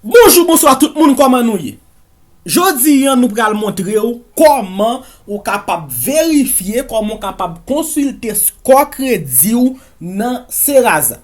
Bonjou bonswa tout moun kòman nou ye Jodi an nou pral montre ou kòman ou kapab verifye kòman ou kapab konsilte skò kredi ou nan Seraza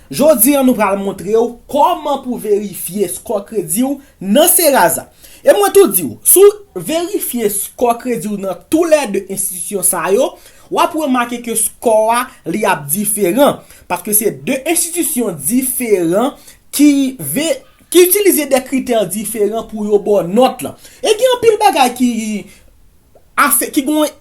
Jodi an nou pral montre w kòman pou verifye skò kredi w nan Serasa. E mwen tou di w, si w verifye skò kredi w nan tou lè 2 enstitisyon sa yo, w ap remake ke skò a li ap diferan, paske se 2 enstitisyon diferan ki ki itilize de kritè diferan pou yo ba w nòt lan. E gen anpil bagay ki afe ki gen yon.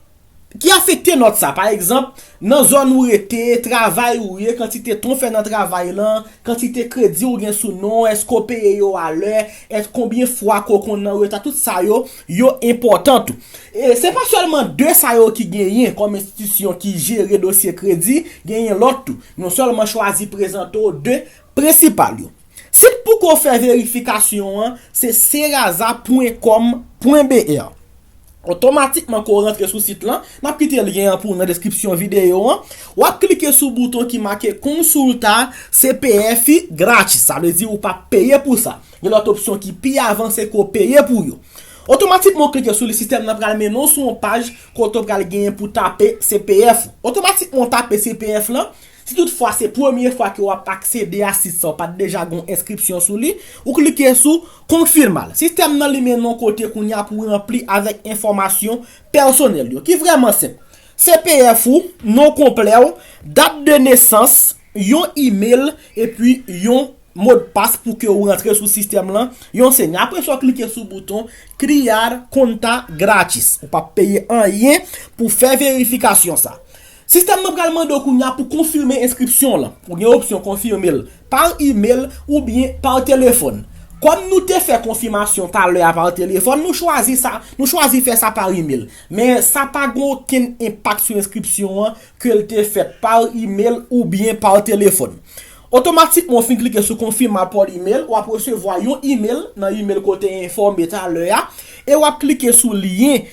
Ki afekte nòt sa. Pa egzanp, nan zòn ou rete, travay ou ye, kantite tan ou fè nan travay lan, kantite kredi ou gen sou non, èske ou peye yo a lè, èske konbyen fwa ke ou konn an reta, tout sa yo, yo enpòtan tou. E se pa sèlman 2 sa yo ki genyen kòm enstitisyon ki jere dosye kredi, genyen lòt tou. Nou sèlman chwazi prezante w 2 prensipal yo. Sit pou ke w fè verifikasyon an se serasa pwen kòm pwen BR. Otomatikman ke w rantre sou sit lan, m ap kite lyen an pou w nan deskripsyon videyo an, w ap klike sou bouton ki make Consulta CPF Grátis, sa vle di ou pa p peye pou sa. Gen lòt opsyon ki pi avanse ke w peye pou yo. Otomatikman ou klike sou li, sistèm nan pral mennen w sou yon paj kote w pral genyen pou w tape CPF ou. Otomatikman ou tape CPF lan, Si tout fwa se premye fwa ke wap aksede a sit sa ou pat deja gon enskripsyon sou li, ou klike sou Confirma l. Sistèm nan li mennen w kote kounye a pou ranpli avèk enfòmasyon pèsonèl yo ki vrèman senp. CPF ou, non konplè w, dat de nesans, yon email epi yon modpas pou ke ou rantre sou sistèm lan, yon sènye. Apre sa w klike sou bouton Criar Conta Grátis. Ou pap peye anyen pou fè verifikasyon sa. Sistèm nan pral mande w kounye a pou konfime enskripsyon w lan. Ou gen opsyon konfime l par imel oubyen par telefòn. Kòm nou te fè konfimasyon talè a par telefòn, nou chwazi sa, nou chwazi fè sa par imel. Men sa pa gen okenn enpak sou enskripsyon an ke l te fèt par imel oubyen par telefòn. Otomatikman ou fin klike sou Confirmar por email, w ap resevwa yon imel nan imel ke w te enfòme talè a e w ap klike sou lyen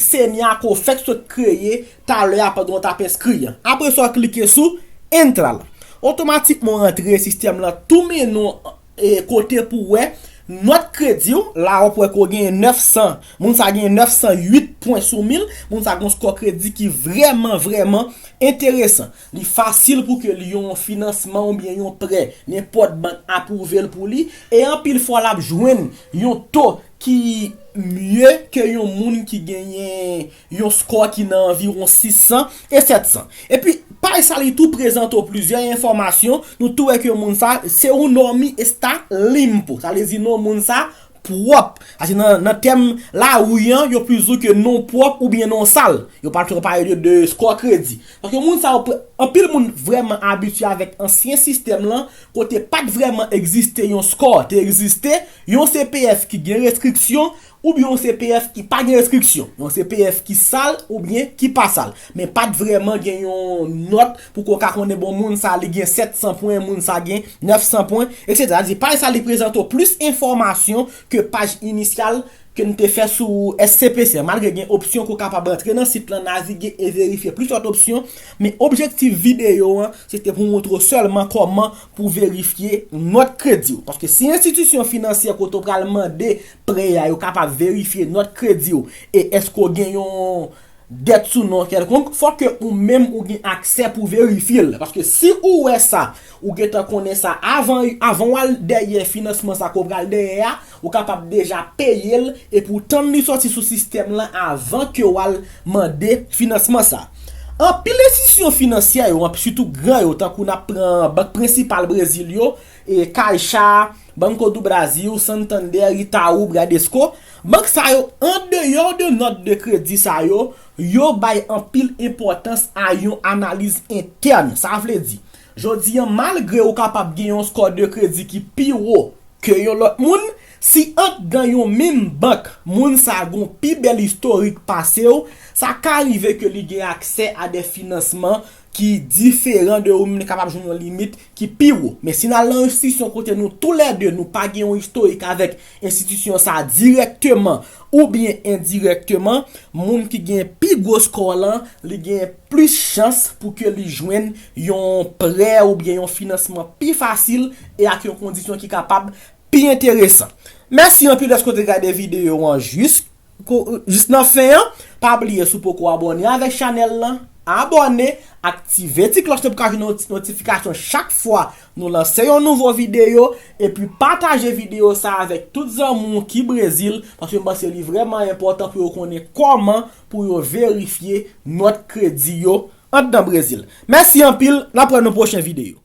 Semya ke w fèk sot kreye talè a pandan w t ap enskri an. Apre sa w klike sou Entra la. Otomatikman w antre sistèm lan tou mennen w kote pou w wè nòt kredi w, la a w ap wè ke w genyen 900, moun sa genyen 908 pwen sou 1000, moun sa gen yon skò kredi ki vrèman vrèman enteresan. Li fasil pou ke li yon finansman oubyen yon prè nenpòt bank apwouve l pou li e anpil fwa l ap jwenn yon to ki mye ke yon moun ki genyen yon skò ki nan anviwon 600 e 700. Epi, paj sa li tou prezante w plizyè enfòmasyon, nou tou wè ke moun sa, se un hommy está limpo, sa vle di non moun sa pwòp. Sa se nan tèm lari an, yo plis di w ke non pwòp oubyen non sal. Yo pa twò pale de skò kredi. Paske moun sa yo, anpil moun vrèman abitye avèk ansyen sistèm lan, kote pat vrèman egziste yon skò, te egziste, Yon CPF ki gen restriksyon oubyen yon CPF ki pa gen restriksyon. Yon CPF ki sal oubyen ki pa sal. Men pat vrèman gen yon nòt pou ke w ka konnen bon moun sa li gen 700 pwen, moun sa gen 900 pwen, etc. Sa vle di paj sa li prezante w plis enfòmasyon ke paj inisyal ke n te fè sou SCPC an. Malgre gen opsyon ke w kapab antre nan sit lan, navige e verifye plis lòt opsyon, men objektif videyo an se te pou montre w sèlman kòman pou verifye nòt kredi w. Paske si enstitisyon finansyè kote w pral mande prè a yo kapab verifye nòt kredi w e èske w gen yon dèt sou non w kèlkonk, fò ke ou menm ou gen aksè pou verifye l. Paske si ou wè sa, ou gentan konnen sa avan w al dèyè finansman sa ke w pral dèyè a, Ou kapab deja peye l epi w tann li sòti sou sistèm lan avan ke w al mande finansman sa. Anpil enstitisyon finansyè yo, sitou gran yo tankou n ap pran bank prensipal Brezil yo, Caixa, Banco do Brasil, Santander, Itaú, Bradesco, bank sa yo andeyò de nòt de kredi sa yo, yo bay anpil enpòtans a yon analiz entèn. Sa vle di. Jodi an, malgre ou kapab gen yon score de kredi ki pi wo ke yon lòt moun, si andan yon menm bank moun sa a gen yon pi bèl istorik pase ou, sa ka rive ke li gen aksè a de finansman ki diferan de ou menm li kapab jwenn yon limit ki pi wo. Men si n al nan enstitisyon kote nou tou lè 2 nou pa gen yon istorik avèk Enstitisyon sa a dirèkteman oubyen endirèkteman, moun ki gen pi gwo skò lan, li gen plis chans pou ke li jwenn yon prè oubyen yon finansman pi fasil e ak yon kondisyon ki kapab pi enteresan. Mèsi anpil dèske w te gade videyo an jis jis nan fen an pa bliye si w poko abòne avèk chanèl lan abòne aktive ti klòch lan pou ka jwenn yon ti notifikasyon chak fwa nou lanse yon nouvo videyo epi pataje videyo sa avèk tout zanmi w ki brezil paske m panse li vrèman enpòtan pou yo konnen kòman pou yo verifye nòt kredi yo anndan brezil mèsi anpil n ap wè nan pwochen videyo.